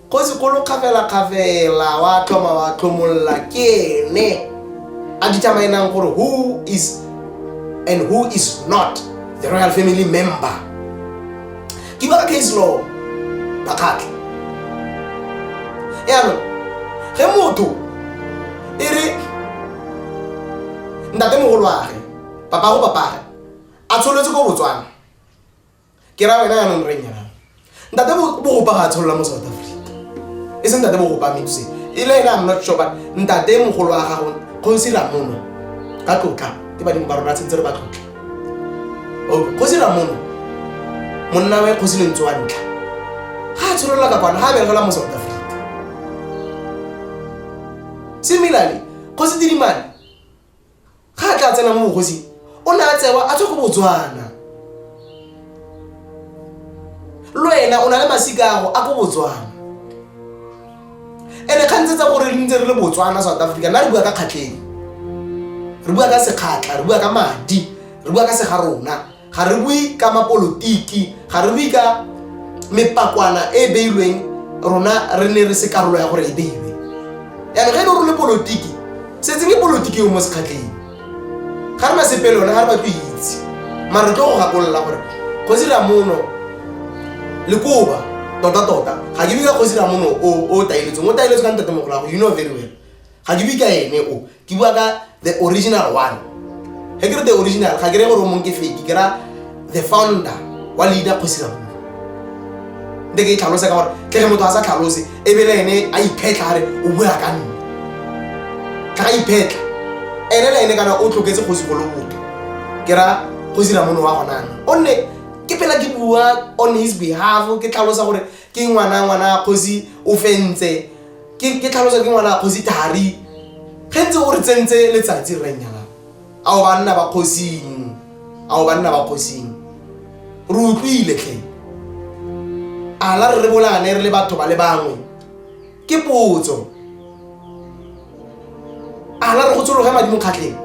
Kgosi kgolo kgafelakgafela wa tlhoma wa tlhomolola ke ene a di tsamaelang gore who is and who is not the royal family member ke ba case law ba kgatlha yaanong ge motho e re ntate mogolo wage papago papage a tsholetse ko botswana ke ra wena yanong re nyana ntate bogopa ga a tsholola mo south africa e seng ntate bogopa metse e le ena i'm not sure but ntate mogolo wa gago kgosi ramono ka tlotla ke badimo ba rona tshwanetse re ba tlotla kgosi ramono monna wa kgosi lentse wa ntlha ga a tsholola ka kwana ga a berekela mo south africa similarly kgosi tsidimane Ga a tla tsena mo bogosing, o ne a tsewa a tswa go Botswana. Lo ena o na le masika ago a ko Botswana. Ene kgang tse tsa gore re ntse re le Botswana, South Africa, nna re bua ka kgatlheng. Re bua ka sekgatlha, re bua ka madi, re bua ka segarona. ga re bue ka mapolotiki ga re bue ka mepakwana e e beilweng rona re ne re se karolo ya gore e beilwe yaanong ge e le gore le polotiki setseng ke polotiki yo mo sekgatleng ga re na sepe le yone ga re batlo itse mare re tlo go gakolola gore kgosi ramono le koba tota tota ga ke bika kgosi ramono o taeletseng o taeletse ka ntate mogolago you know very well ga ke bika ene o ke bua ka the original one ge ke re the original ga ke re gore o mong ke fedi ke ra the founder wa leader kgosiramong nte ke e tlhalose ka gore ke ge motho a sa tlhalose e bele ene a iphetlha gare o bua ka nne ka ga iphetlha ene le ene kana o tloketse kgosi go lobotho ke ra kgosiramone wa gonane o nne ke phela ke bua on his behalf ke tlhalosa gore ke ngwana ngwana kgosi o fentse ke ke tlhalosa ke ngwana kgosi thari ge ntse o re tsentse letsatsi re nyala a o banna ba kgosing a o banna ba kgosing re utlwile tlhe a la re re bolane re le batho ba le bangwe ke potso ana re go tshologe madi mokgatlheng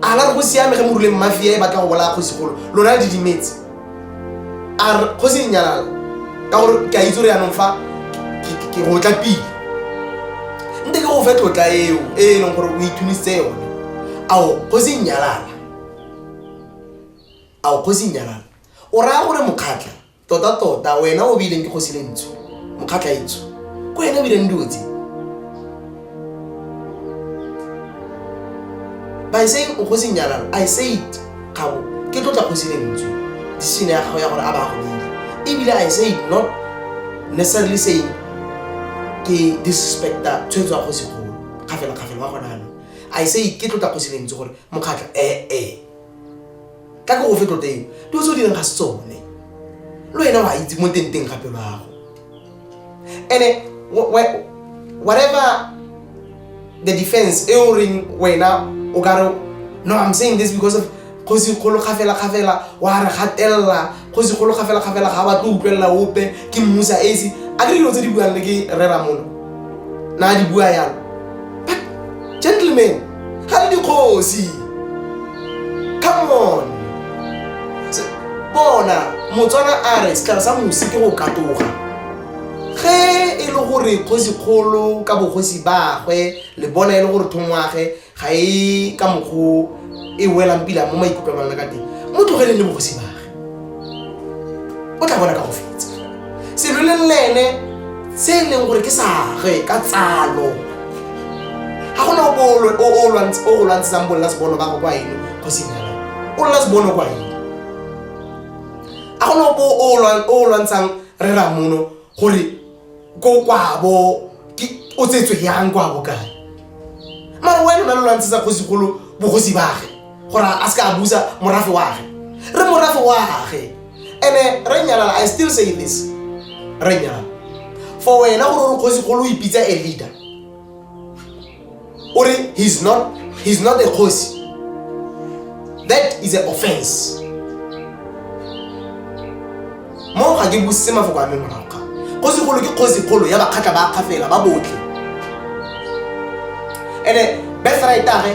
ana re go siame ge moruleng mafia e batla go bolaya kgosigolo lona le didimetse a re go se nyalala ka gore ke a itse gore yanong fa ke go tla pele nte ke go fe tlotla eo e e leng gore o ithunisitse yone ao go se nyalala ao go se nyalala o raya gore mokgatlha totatota wena o beileng ke kgosi le ntsho mokgatlha e ntsho ko wena o bileng dilo tse by saying o kgosi nyalalo i said gabo ke tlotla kgosi le ntsho decision ya gago ya gore a ba go bile ebile i said not necessarily saying ke disrespecta tshwetso ya kgosi golo kgafela kgafela wa gona ano i said ke tlotla kgosi le ntsho gore mokgatlha ee eh, eh. ka ke go fe tlotla eo di o se o direng ga se tsone le wena wa itse mo tenteng ga pelo yago ene whatever the defense e o reng wena o ka re no i'm saying this because of kgosi kgolo kgafela kgafela wa re gatelela go se golo gafela-gafela ga ba tlo utlwelela ope ke mmusa esi a ke dilo tse di buang le ke reramolo na a di bua yalo but gentleman ga le dikgosi come on bona motswana a re setlhare sa mosi ke go katoga ge e le gore kgosi kgolo ka bogosi bagwe le bona e le gore thongwage ga e ka mokgo e welang pila mo maikutlwang a lona ka teng mo tlogeleng le bogosi bage o tla bona ka go fetsa seloleng le ene se e leng gore ke sage ka tsalo ga gona o o lwantshetsang bolela sebono ba go kwa eno go senyala o lela sebono kwa eno ga gona o o lwantshang re ramono gore ko kwabo o tsetswe yang kwabo kae mara wena na lo lwantshetsa kgosigolo bogosi bage gore a se ka a busa morafe wage re morafe wage ene re nyalala i still say this re nyalala for wena gore o re kgosigolo o ipitsa a leader Uri, he's not, he's not a khosi. That is an offense. Mo ga ke busise mafoko a me morago ga. Kgosi kgolo ke kgosi kgolo ya bakgatla ba kgafela ba botlhe. Ene best right age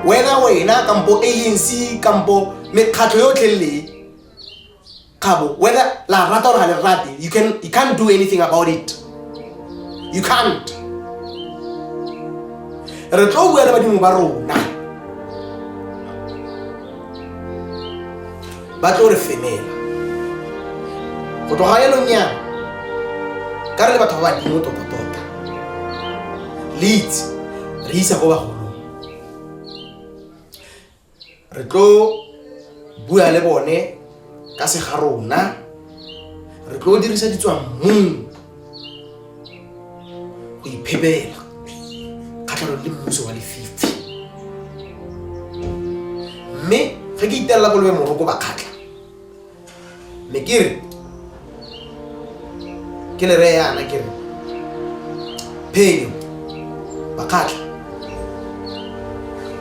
wena wena kampo ANC kampo mekgatlho yotlhe le Kabo, whether la rata or le rate, you can you can't do anything about it. You can't. Re tlo bua le badimo ba rona. Ba tlo re femela. Go tloga ya lonya. Ka re le batho ba badimo tota tota. Leads re isa go bagolo. re tlo bua le bone ka se ga rona re tlo dirisa ditswammung go iphebela kgatlhanong le mmuso wa lefifi mme ge ke itelela kolobe moroko ba kgatlha me ke re ke le reye yana ke re phenyo bakgatlha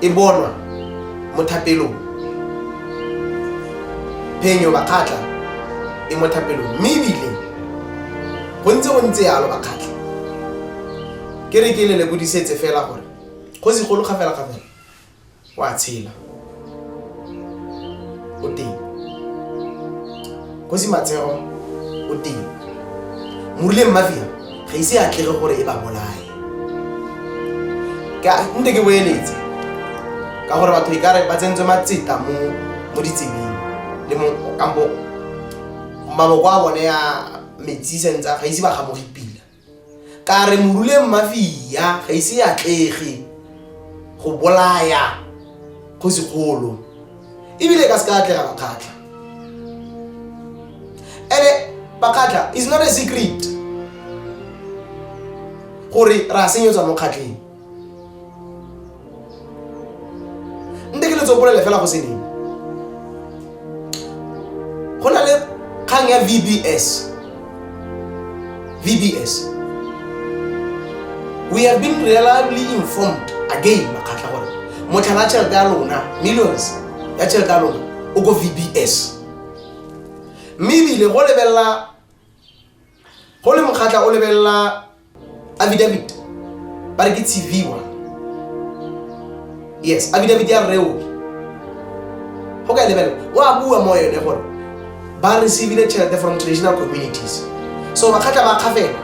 e bonwa mo thapelong phenyo bakgatlha e mo thapelong mme ebile go ntse go ntse yalo bakgatlha ke re ke le lebodisetse fela gore go segolo ga fela ga fela o a tshela o teng kgosi matsego o teng morileng mafia ga ise a tlege gore e ba bolae nte ke boeletse ka gore batho e kare ba tsentswe matseta mo mo ditsebeng le mo kampo maboko a bone ya metsi sentse ga ise ba gamoge pila Ka re moruleng mafia ga ise e atlege go bolaya kgosigolo ebile e ka se ka atlega bakgatlha ene bakgatlha is not a secret gore re a senyetswa mo kgatlheng nte ke letso bolele fela go se ding go na le kgang ya vbs vbs we have been reliably informed again makgatlha gore motlhala tšhelete ya lona millions ya tšhelete ya lona o ko vbs mme ebile go lebelela go le mokgatla o lebelela affidavit ba re ke tshiviwa yes affidavit ya reo go ka e lebelela o a bua mo yone gore ba receivile tšhelete from traditional communities so makgatla ba kgafela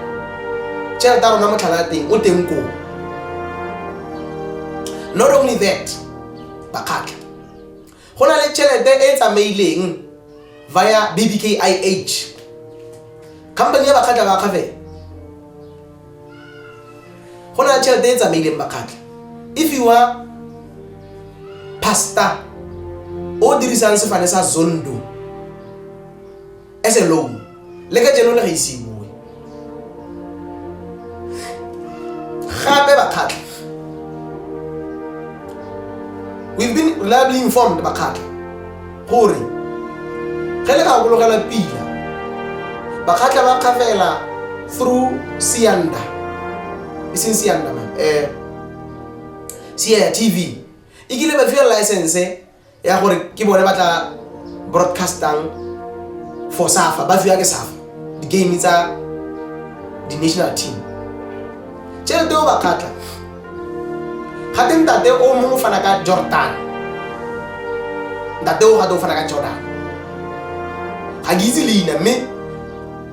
tšhelete a rona motlhala ya teng o teng koo not only that bakgatla Go na le tšhelete e e tsamaileng via BBKIH, company ya Bakgatla ba Akgafela. Go na le tšhelete e e tsamaileng Bakgatla e fiwa pastor o dirisang sefane sa Zondo. as a loan le ka jeno le ga isiwe gape bakgatlha we've been reliably informed bakgatlha gore ge le gakologela pila bakgatlha ba kgafela through sianda e seng sianda um eh, sia tv e kile ba fiwa license ya gore ke bone ba tla broadcastang for safa ba fiwa ke safa di-game tsa di-national team tšhelete o ba kgatla gate ntate o mongwe o fana ka jordan ntate o gate o fana ka jordan ga ke itse leina mme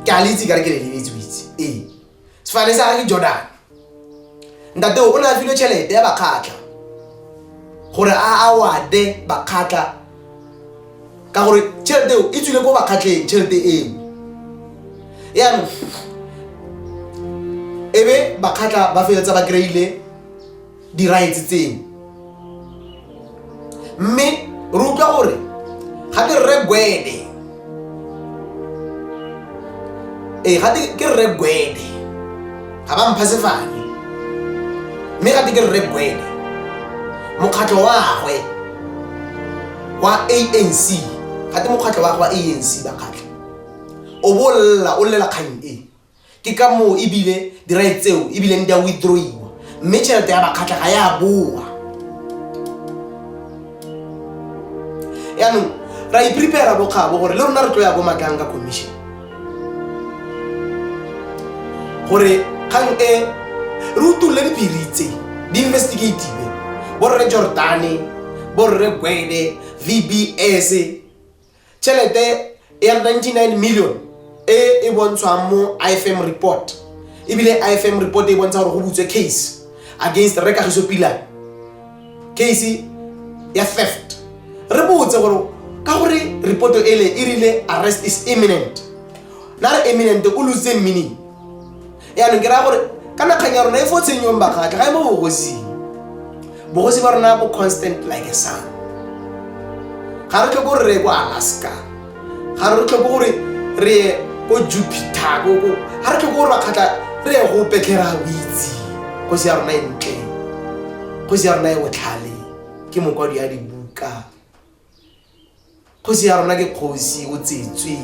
ke a le itse ka re ke le lebetse o itse ee sefane sa gage ke jordan ntate o ne a filwe tšhelete ya bakgatlha gore a awade bakgatlha ka gore tšhelete eo e tswile ko bakgatlheng tšhelete eo yaanong e be bakgatlha ba feletsa ba kry-ile diraetse tseno mme re utlwa gore ga ke rre gwede ee eh, gate ke rre gwede ga ba mpha sefane mme gate ke rre gwede mokgatlho wagwe wa anc gate mokgatlho wagwe wa anc bakgatlha o bolla o llela kgang e ke ka moo ebile di-right tseo ebileng di a withdrawiwa mme tšhelete ya bakgatlha ga ya boa yaanong ra iprepara bokgabo gore le rona re tlo ya bomakang ka commission gore kgang e re utolole dipiri tse di investigative borre jordane borre gwede vbs Tšhelete ya 99 million e e bontshwang mo IFM report ebile IFM report e bontsha gore go butswe case against Rre Kagiso Pila case ya theft re botse gore ka gore reporto ele e rile arrest is imminent na re imminent o lositse meaning yaanong ke raya gore ka nakgang ya rona e fo tshenyong bakgatlha ga e mo bogosing bogosi ba rona bo constant like a sun ga re tlhoko gore re ye ko alaska ga re tlhoko gore re ye ko jupiter ko ko ga re tlhoko gore bakgatlha re ye go petlhera boitse kgosi ya rona e ntle kgosi ya rona e botlhale ke mokwadi ya dibuka kgosi ya rona ke kgosi o tsetswe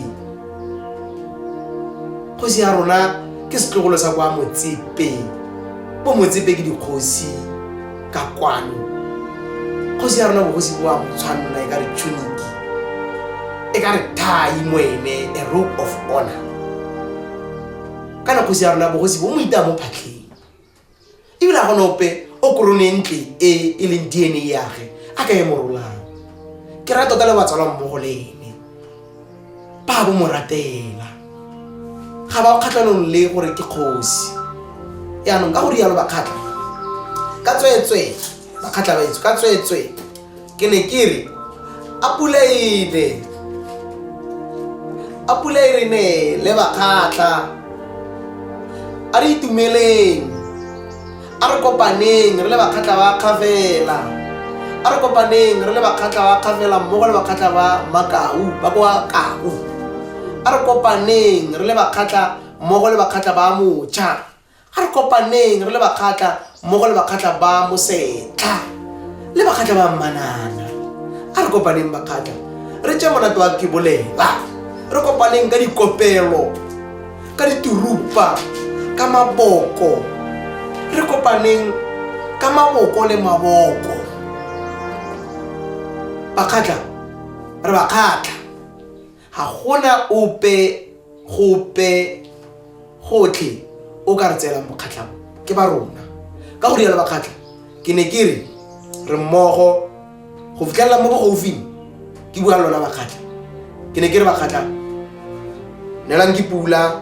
kgosi ya rona ke setlogolo sa kwa motsepe bo motsepe ke dikgosi ka kwano kgosi ya rona bogosi bo a motshwanna e ka re tshuniki e ka re thai moene a rope of honor kana kgosi ya rona bogosi bo mo itaya mo phatlheng ebile a gona ope o korone ntle e e leng dna yage a ka e morolang ke ra tota le batsalwa mmogo le ene ba bo moratela ga ba kgatlhanong le gore ke kgosi yaanong ka go rialo bakgatlha ka tsweetswee bakgatlha baetso ka tsweetswee ke ne ke re a pula ene a pula e re ne le bakgatlha a re itumeleng a re kopaneng re le bakgatlha ba kgafela a re kopaneng re le bakgatlha ba kgafela mmogo le bakgatlha ba makau ba kwa kau a re kopaneng re le bakgatlha mmogo le bakgatlha ba mocha A re kopaneng re le bakgatla mmogo le bakgatla ba mosetlha le bakgatla ba mmanana. A re kopaneng bakgatla re tše monate wa kebolela. Re kopaneng ka dikopelo, ka diturupa, ka maboko. Re kopaneng ka maboko le maboko. Bakgatla re bakgatla. Ga go na ope gope gotlhe o ka re tseelang bokgatlha bo, ke ba rona, ka go rialo Bakgatlha. Ke ne ke re, re mmogo go fitlhelela mo bogaufing, ke bua le lona Bakgatlha. Ke ne ke re, Bakgatlha, neelang ke pula.